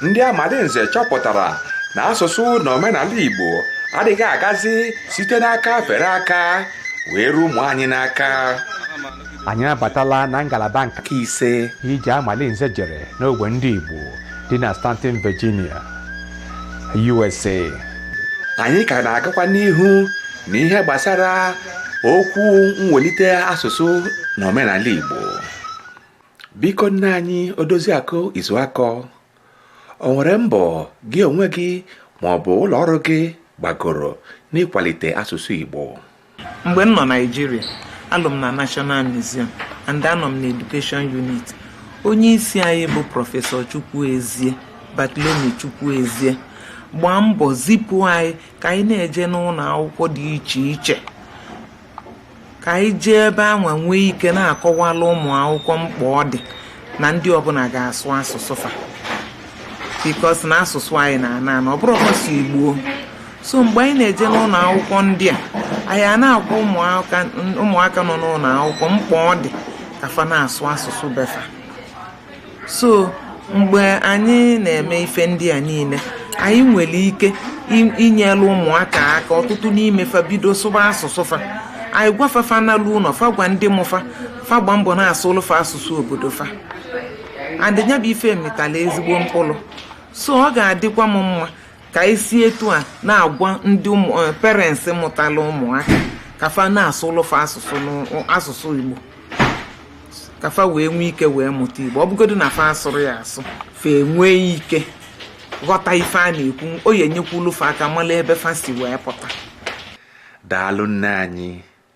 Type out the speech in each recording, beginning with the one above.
ndị amalinze chọpụtara na asụsụ na omenala igbo adịghị agazi site n'aka fere aka wee ruo ụmụ anyị n'aka anyị abatala na ngalaba nke ise ije amalinze jere n'ogbe ndị igbo dị na staunton virginia USA anyị ka na-agakwa n'ihu na ihe gbasara okwu mwelite asụsụ na omenala Igbo biko nne anyị odoziakụ izuakọ o nwere mbọ gị onwe gị ma ọ bụ ụlọ ọrụ gị gbagoro n'ịkwalite asụsụ Igbo mgbe m nọ naijiria alụ m na national museum and anọ m na education unit onye isi anyị bụ prọfesọ chukwuezie bartholomew chukwuezie gbaa mbọ zipụ anyị ka anyị na-eje n'ụnọ akwụkwọ dị iche iche ka anyị jee ebe anwa nwee ike na-akọwala ụmụ akwụkwọ mkpa ọ dị na ndị ọbụla ga-asụ asụsụ fa because na asụsụ anyị na-ana ana ọ bụrọkwa sọ igbo so mgbe anyị na-eje n'ụnọ akwụkwọ ndị a anyị a na-agwa ụmụaka nọ n'ụnọ akwụkwọ mkpa ọ dị ka fa na-asụ asụsụ be fa so mgbe anyị na-eme ife ndị a niile anyị nwere ike inyelu ụmụaka aka ọtụtụ n'ime fa bido sụba asụsụ fa anyị gwa fa fa nalu ụnọ fa gwa ndị mụ fa fa gba mbọ na-asụlụ fa asụsụ obodo fa and ya bụ ife mịtalụ ezigbo mkpụlụ so ọ ga-adịkwa m mma ka e si etu a na-agwa ndị eh, parents mụtalụ ụmụaka ka fa na-asụlụ fa asụsụ Igbo ka fa wee nwee ike wee mụta Igbo ọ bụgodu na fa asụrọ ya asụ fa enwee ike ghọta ife a na-ekwu ọ ya-enyekwulu fa aka mala ebe fa si wee pụta daalụ nne anyị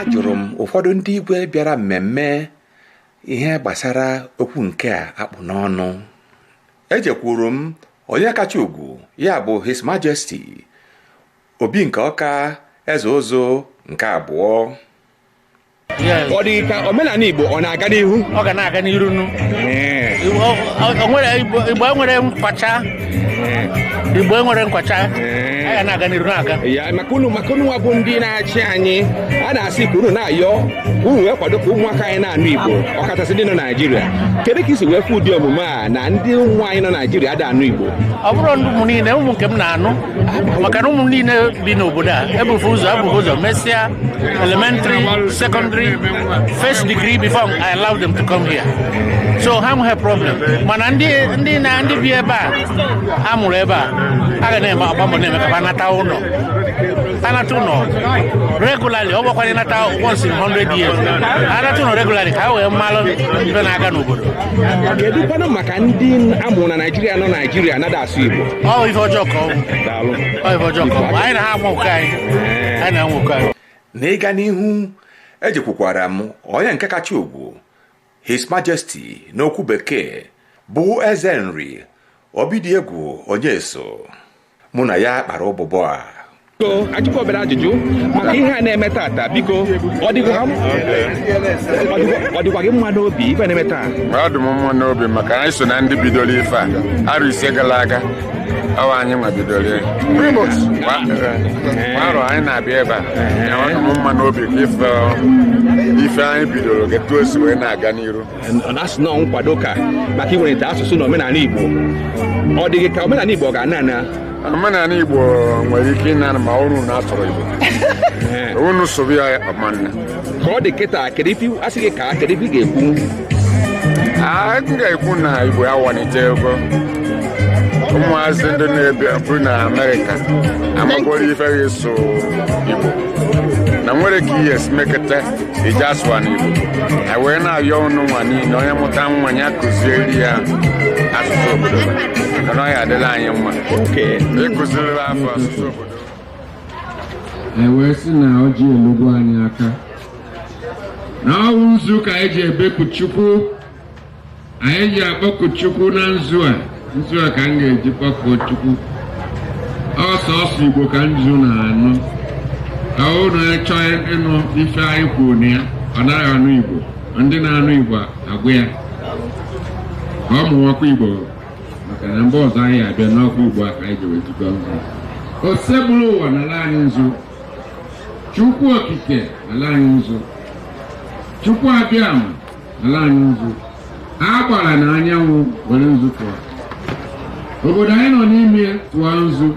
ajụrụ m ụfọdụ ndị igwe bịara mmemme ihe gbasara okwu nke a a kpụ n'ọnụ ejekwuru m onye kacha ugwu ya bụ his majesty obi nke ọka eze ụzụ nke abụọ ọ dị ka omenala Igbo ọ na-aga n'ihu ọ ga na-aga n'iru nu Igbo enwere nkwacha Igbo enwere nkwacha ya na-aga n'iru na-aga ya maka unu maka unu nwa bụ ndị na-achị anyị a na-asị ka unu na-ayọ unu wee kwado ka ụmụaka anyị na-anụ Igbo ọkachasị ndị nọ Naijiria kedu ka i si wee fụ ụdị omume a na ndị ụmụ anyị nọ Naijiria ada anụ Igbo ọ bụrọ ndị ụmụ niile ụmụ nke m na-anụ maka na ụmụ niile bi n'obodo a ebufe ụzọ abụghị ụzọ mesịa elementary secondary first degree before I allow them to come here so ha nweghị problem mana ndị ndị na ndị bi ebe a a mụrụ ebe a a ga na-eme agba mbọ na-eme ka ha nata ụlọ anata ụlọ regularly ọ bụkwa nata once in 100 years anata ụlọ regularly ka ha wee malụ ibe na-aga n'obodo kedụkwanụ maka ndị amụrụ na naijiria nọ naijiria na-ada asụ igbo ọ ife ọjọọ ka ọ bụ daalụ ọ ife ọjọọ ka ọ bụ anyị na ha amụkọ anyị anyị na-amụkọ anyị n'ịga n'ihu ejekwukwara m onye nke kacha ugwu his majesty n'okwu bekee bụ eze nri obidiegwu onyeso mụ na ya kpara ụbụbọ a biko ajụkọ obere ajụjụ maka ihe a na-eme tata biko ọ dịkwa ha- ọ dịkwa- ọ dịkwa gị mma n'obi ife na-eme taa ọ dị m mma n'obi maka anyị so na ndị bidoro ife a arọ ise gara aga ọ wụ anyị nwa bidoro ya. Kwa kwa arọ anyị na-abịa ebe a ya ọ dị m mma n'obi ka ife ife anyị bidoro na etu o si wee na-aga n'iru na-asị na ọ nkwado ka maka iwelite asụsụ na omenani Igbo ọ dị gị ka omenani Igbo ọ ga-ana ana omenani Igbo nwere ike ịna ana ma unu na-asụrọ Igbo unu sụba ya ọ ma ana ka ọ dị kịta kedu ife asị gị ka kedu ife ị ga-ekwu a ga-ekwu na Igbo awalitego ụmụazị ndị na-ebi bụ na amerịka amagoro ife eji asụ igbo na nwere ka ihe si mekọta eji asụwa n'igbo anyị wee na-ayọ ụnụ nwa niile onye mụta nwa ya kụziere ya asụsụ obodo ya na ọ ya-adịlị anyị mma ịkụziri fa asụsụ obodo e wee sị na ọjị elugo anyị aka na ọ wụ nzu ka anyị ji ebeku chukwu anyị ji akpọku chukwu na nzu a nzu a ka m ga-eji kpọkuo chukwu ọ sọsọ igbo ka nzu na-anụ onye chọọ ịnụ ife anyị kwuru na ya ọ naghị anụ igbo ndị na-anụ igbo agwa ya ka ọ mụwakwa igbo maka na mgbe ọzọ anyị abịa na ọkwa igbo a ka anyị ji wee tụkọ nzu osebụrụwa nala anyị nzu chukwu okike nala anyị nzu chukwu abịama ala anyị nzu agbara na anyanwụ were nzu tụọ obodo anyị nọ n'ime ya tụọ nzu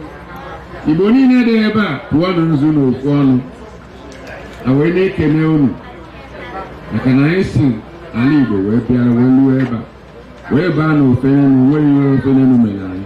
igbo niile dị ebe a tụọ nụ nzu na ofu ọnụ a wee na-ekene unu maka na anyị si ala igbo wee bịara wee luo ebe a wee baa na ofe enu nwere ihe ofe enu mere anyị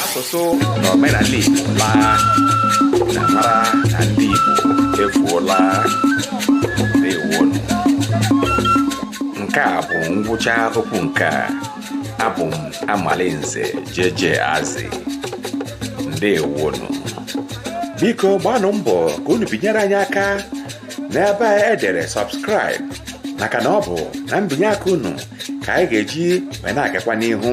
asụsụ na omenala Igbo laa na mara na ndị Igbo efuola ndewonu nke a bụ ngwụcha okwu nke a abụ m Amalinze JJ Azị ndewonu biko gbaanụ mbọ ka unu binyere anyị aka n'ebe e dere subscribe maka na ọ bụ na mbinye aka unu ka anyị ga-eji wee na-agakwa n'ihu